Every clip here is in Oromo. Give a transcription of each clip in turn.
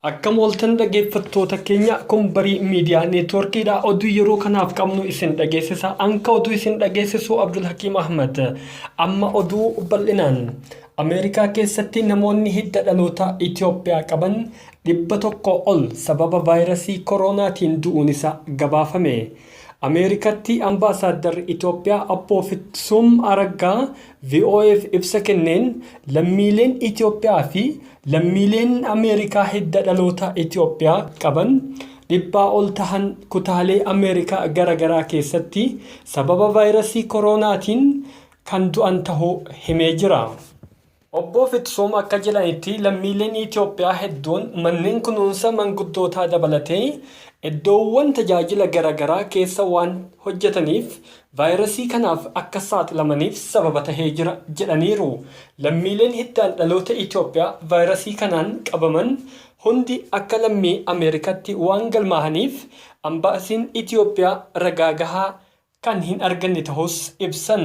Akkam ooltan dhaggeeffattoota keenya kun barii miidiyaa neetwoorkiidha. Oduu yeroo kanaaf qabnu isin dhageessisa. Anka oduu isin dhageessisu Abdul Hakiim Ahmad. Amma oduu bal'inaan. Ameerikaa keessatti namoonni hidda dhalootaa Itoophiyaa qaban 100 ol sababa vaayrasii koroonaatiin du'uun isaa gabaafame. Ameerikatti Ambaasaaddarri Itoophiyaa Abboo Fitsum Araggaa VOA'f ibsa kenneen lammiileen Itoophiyaa fi lammiileen Ameerikaa hidda dhalootaa Itoophiyaa qaban dhibbaa ol tahan kutaalee Ameerikaa gara garaa keessatti sababa vaayrasii koroonaatiin kan du'an tahuu himee jira. Obbo Fitsuum akka jedhanitti lammiileen Itiyoophiyaa hedduun manneen kunuunsa manguddootaa dabalatee eddoowwan tajaajila gara garaa keessa waan hojjetaniif vaayirasii kanaaf akka saaxilamaniif sababa tahee jira jedhaniiru. Lammiileen hiddaan dhaloota Itiyoophiyaa vaayirasii kanaan qabaman hundi akka lammii Ameerikaatti waan galmaahaniif Ambaasiin Itiyoophiyaa ragaa gahaa kan hin arganne tahuus ibsan.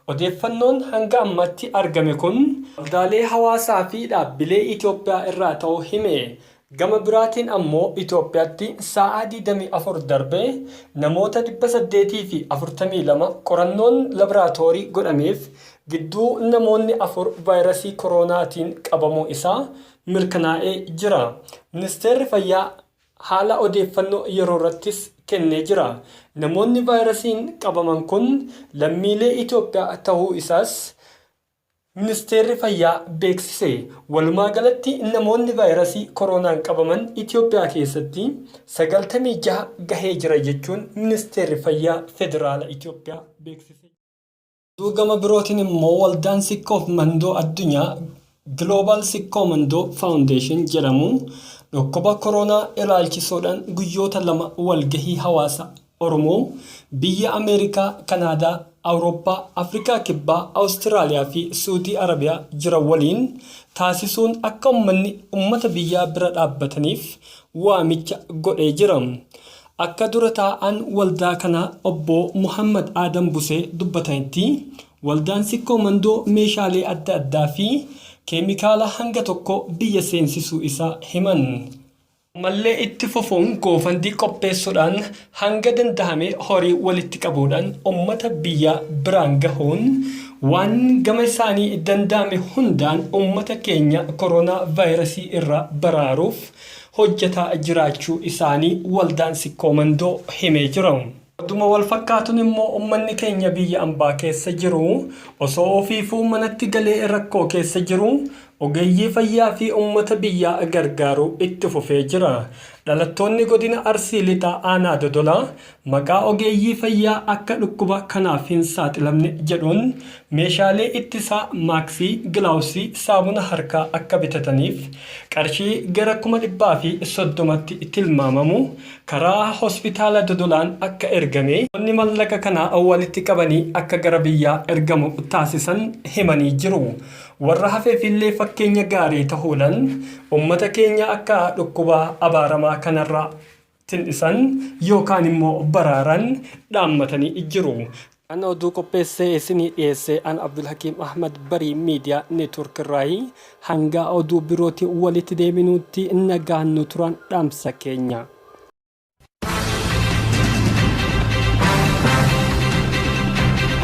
Odeeffannoon hanga ammaatti argame kun waldaalee hawaasaa fi dhaabbilee Itoophiyaa irraa ta'uu hime. Gama biraatiin ammoo Itoophiyaatti saa'aa 24 darbee namoota 842 qorannoon labraatoorii godhameef gidduu namoonni afur vaayrasii koroonaatiin qabamuu isaa mirkanaa'ee jira. Ministeerri Fayyaa. haala odeeffannoo yeroorrattis kennee jira. Namoonni vaayirasiin qabaman kun lammiilee Itoophiyaa tahuu isaas Ministeerri Fayyaa beeksise. Walumaagalatti namoonni vaayirasii koroonaan qabaman Itoophiyaa keessatti 96 gahee jira jechuun Ministeerri Fayyaa Federaala Itoophiyaa beeksise. Oduu gama birootiin immoo waldaan Sikkoof Mandoo Addunyaa Global Sikkoo Mandoo Foundation jedhamu dhukkuba koroonaa ilaalchisuudhaan guyyoota lama walgahii hawaasa Oromoo biyya Ameerikaa, Kanaadaa, Awurooppaa, Afrikaa Kibbaa, Awustiraaliyaa fi Suudii Arabiyaa jiran waliin taasisuun akka ummanni ummata biyyaa bira dhaabbataniif waamicha godhee jira. Akka dura taa'aan waldaa kanaa obbo Muhammad Aadam Busee dubbatanitti, waldaan Sikkoo Mandoo meeshaalee adda addaa fi keemikaala hanga tokko biyya seensisuu isaa himan. Ammallee itti fufuun goofandii qopheessuudhaan hanga dandahame horii walitti qabuudhaan ummata biyyaa biraan gahuun waan gama isaanii danda'ame hundaan ummata keenya koroonaa vaayirasii irraa baraaruuf hojjetaa jiraachuu isaanii waldaan Sikkoo Mandoo himee jira. Oduma walfakkaatun immoo ummanni keenya biyya ambaa keessa jiru osoo ofiifuu manatti galee rakkoo keessa jiru ogeeyyii fayyaa fi ummata biyyaa gargaaruu itti fufee jira. Dhalattoonni godina Arsii Lixaa aanaa Dodolaa Maqaa ogeeyyii fayyaa akka dhukkuba kanaaf hin saaxilamne jedhuun meeshaalee ittisaa, maaksii, gilaawusii, saamuna harkaa akka bitataniif qarshii gara kuma dhibbaa fi soddomatti tilmaamamu karaa Hospitaala Dodolaan akka ergame namoonni mallaqa kana walitti qabanii akka gara biyyaa ergamu taasisan himanii jiru. Warra hafeefillee fakkeenya gaarii tahuudhan ummata keenya akka dhukkuba abaaramaa kanarraa. tin dhisan yookaan immoo baraaran dhaammatanii jiru. Kan oduu qopheessee isinii dhiyeesse an Abdulhakiim Ahmad Barii Media Network irraayi. Hanga oduu birootiin walitti deebinuutti nagaan nu turan dhaamsa keenya. Thank you.